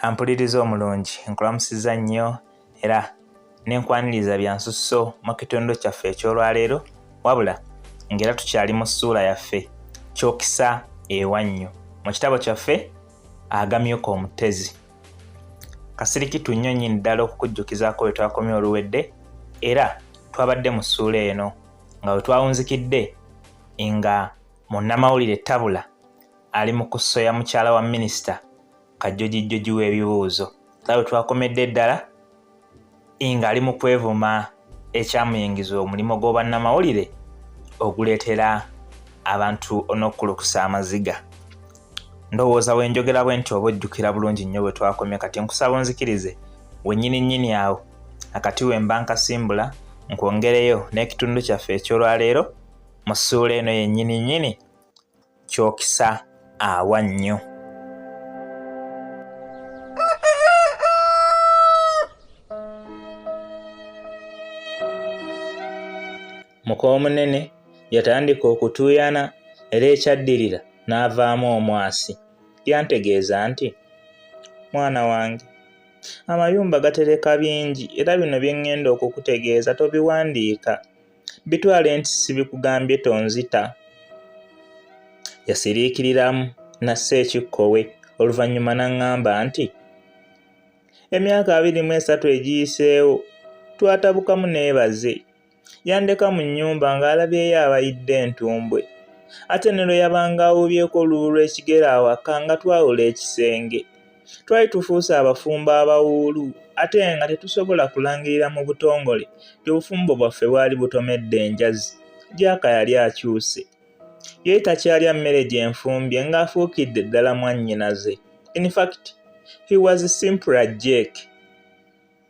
ampuliriza omulungi nkulamusiza nnyo era nenkwaniriza byansusso mu kitundu kyaffe ekyolwaleero wabula ngaera tukyali mu ssuula yaffe kyokisa ewannyo mu kitabo kyaffe agamyuka omutezi kasirikitu nnyo nyini ddala okukujjukizaako bwe twakomye oluwedde era twabadde mu ssuula eno nga we twawunzikidde nga Munnamawulire Tabula ali mu kusoya mukyala wa minisita kajjojijjoji w'ebibuuzo nga bwe twakomedde eddala ng'ali mu kwevuma ekyamuyingiza omulimu gw'obannamawulire oguleetera abantu onokkulukusa amaziga ndowooza bwe njogera bwe nti oba ojjukira bulungi nnyo bwe twakomye kati nkusaba onzikirize wennyini nnyini awo akati wemba nkasimbula nkwongereyo n'ekitundu kyaffe eky'olwaleero mu ssuula eno yennyini nnyini kyokisa awa nnyo mukoomunene yatandika okutuuyana era ekyaddirira n'avaamu omwasi lyantegeeza nti mwana wange amayumba gatereka bingi era bino bye ŋŋenda okukutegeeza tobiwandiika bitwale nti sibikugambye tonzita yasiriikiriramu nassa ekikkowe oluvannyuma n'aŋŋamba nti emyaka abiri mu esatu egiyiseewo twatabukamu neebaze yandeka mu nnyumba ng'alabyeyo abayidde entumbwe ate ne lwe yabanga awuubyeko olubu lw'ekigere awaka nga twawula ekisenge twali tufuuse abafumbo abawuulu ate nga tetusobola kulangirira mu butongole nti obufumbo bwaffe bwali butomedde enjazi jaaka yali akyuse yali takyalya mmere gye nfumbye ng'afuukidde ddala mwannyinaze infact he was simpler jake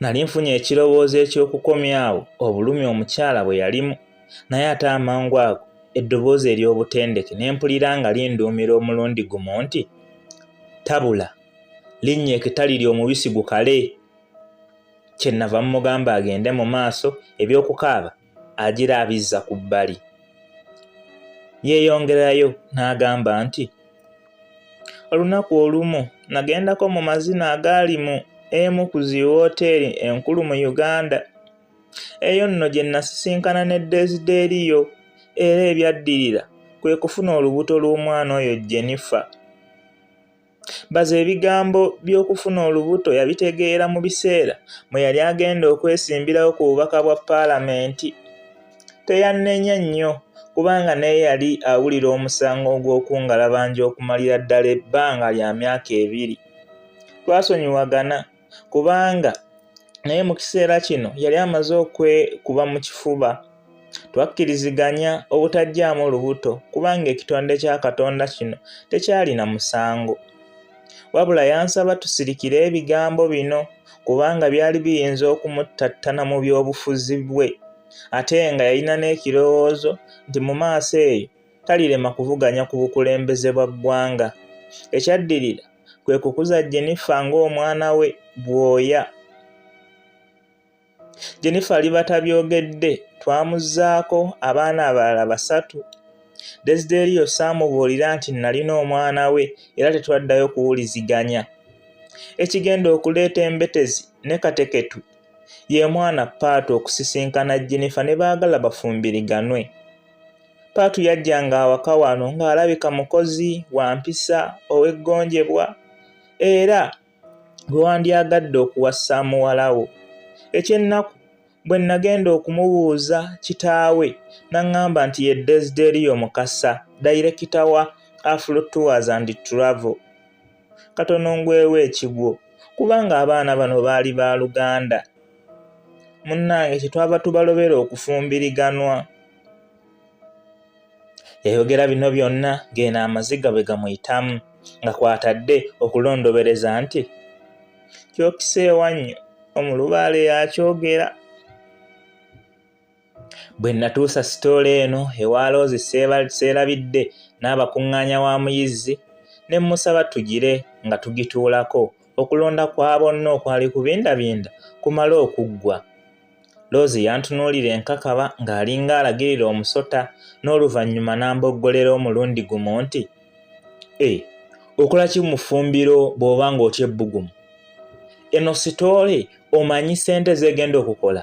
Nali nfunye ekirowoozo eky'okukomyawo obulumi omukyala bwe yalimu, naye ate amangu ago eddoboozi ery'obutendeke ne mpulira nga linduumira omulundi gumu nti, Tabula, linnya ekitali ly'omubisi gukale! Kye nnava mmugamba agende mu maaso, eby'okukaaba agira abizza ku bbali yeeyongerayo n'agamba nti olunaku olumu nagendako mu mazina agaali mu emu ku zi wooteeri enkulu mu uganda eyo nno gye nasisinkana ne desideeriyo era ebyaddirira kwe kufuna olubuto lw'omwana oyo jenifa Baze ebigambo by'okufuna olubuto yabitegeera mu biseera mwe yali agenda okwesimbirawo ku bubaka bwa Palamenti. Teyannenya nnyo kubanga naye yali awulira omusango ogw'okungalabanja okumalira ddala ebbanga lya myaka ebiri. Twasonyiwagana kubanga naye mu kiseera kino yali amaze okwekuba mu kifuba twakkiriziganya obutajjaamu lubuto kubanga ekitonde kya katonda kino tekyalina musango wabula yansaba tusirikire ebigambo bino kubanga byali biyinza okumuttattana mu by'obufuzi bwe ate nga yalina n'ekirowoozo nti mu maaso eyo talirema kuvuganya ku bukulembeze bwa ggwanga ekyaddirira kwe kukuza Jenifa ng'omwana we bwoya. Jenifa alibata byogedde twamuzzaako abaana abalala basatu. Desiderio saamubuulira nti nnalina omwana we era tetwaddayo kuwuliziganya. Ekigenda okuleeta embetezi ne kateketu ye mwana Paatu okusisinkana Jenifa ne baagala bafumbiriganwe. Paatu yajjanga awaka wano ng'alabika mukozi wa mpisa ow'eggonjebwa era gwe wandyagadde okuwasa muwala wo. Eky'ennaku bwe nnagenda okumubuuza kitaawe n'aŋŋamba nti ye Desideriyo Mukasa, dayirekita wa Afro Tours and Travel. katono ngwewo ekigwo kubanga abaana bano baali ba luganda munnange kyetwava tubalobera okufumbiriganwa yayogera bino byonna ng'eno amaziga bwe gamuyitamu nga kwatadde okulondobereza nti kyokiseewannyo omulubaale yakyogera Bwe natuusa sitoola eno ewa Loozi seerabidde n'abakuŋŋaanya wa muyizzi ne mmusaba tugire nga tugituulako okulonda kwa bonna okwali kubindabinda kumale okuggwa. Loozi yantunuulira enkakaba ng'alinga alagirira omusota n'oluvannyuma n'amboggolera omulundi gumu nti, E, okola ki mu ffumbiro bw'oba ng'otya ebbugumu? Eno sitoole omanyi ssente z'egenda okukola?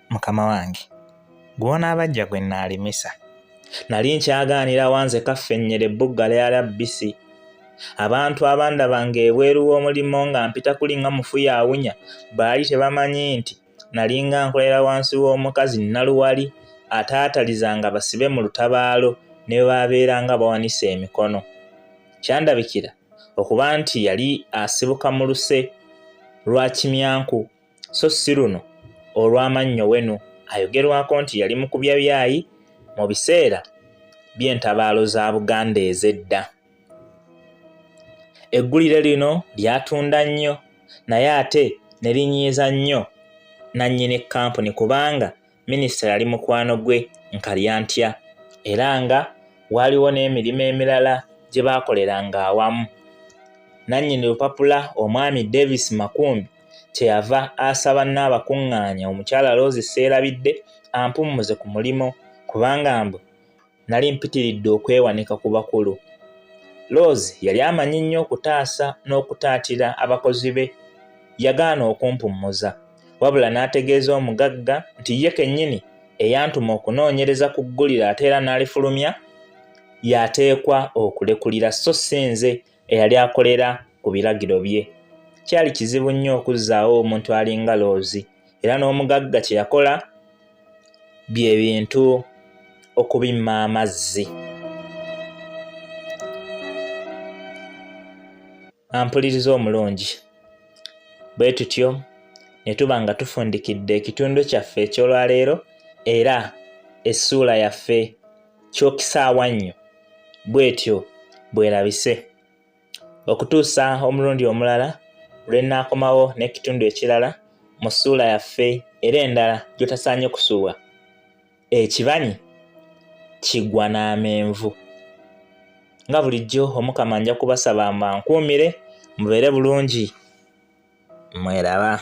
mukama wange gw'onaabajja gwe nnaalimisa nali nkyagaanira wanze kaffennyera ebbugga lya labbisi abantu abandaba ng'ebweru w'omulimu nga mpita kuli nga mufu yaawunya baali tebamanyi nti nalinga nkolera wansi w'omukazi nnaluwali ataatalizanga basibe mu lutabaalo ne bwe baabeera nga bawanise emikono kyandabikira okuba nti yali asibuka mu luse lwa kimyanku so si luno olw'amannyo wenu ayogerwako nti yali mu kubya byayi mu biseera by'entabaalo za Buganda ez'edda. Eggulire lino lyatunda nnyo naye ate ne linyiiza nnyo nnannyini kkampuni kubanga minisita yali mukwano gwe nkalyantya era nga waaliwo n'emirimu emirala gye baakoleranga awamu nannyini lupapula omwami davis makumbi kyeyava asaba nnaabakuŋŋaanya omukyala loozi seerabidde ampummuze ku mulimu kubanga mbu Nali mpitiridde okwewanika ku bakulu. Rose yali amanyi nnyo okutaasa n'okutaatira abakozi be. Yagaana okumpummuza, wabula n'ategeeza omugagga nti ye kennyini eyantuma okunoonyereza ku ggulire ate era n'alifulumya y'ateekwa okulekulira so si nze eyali akolera ku biragiro bye kyali kizibu nnyo okuzzaawo omuntu alinga loozi era n'omugagga kye yakola bye bintu okubimma amazzi ampuliriza omulungi bwe tutyo ne tuba nga tufundikidde ekitundu kyaffe eky'olwaleero era essuula yaffe kyokisaawa nnyo bwetyo bwerabise okutuusa omulundi omulala lwe nnaakomawo n'ekitundu ekirala mu ssuula yaffe era endala gy'otasaanye kusubwa ekibanyi kigwa n'amenvu nga bulijjo omukama nja kubasaba mbankuumire mubeere bulungi mweraba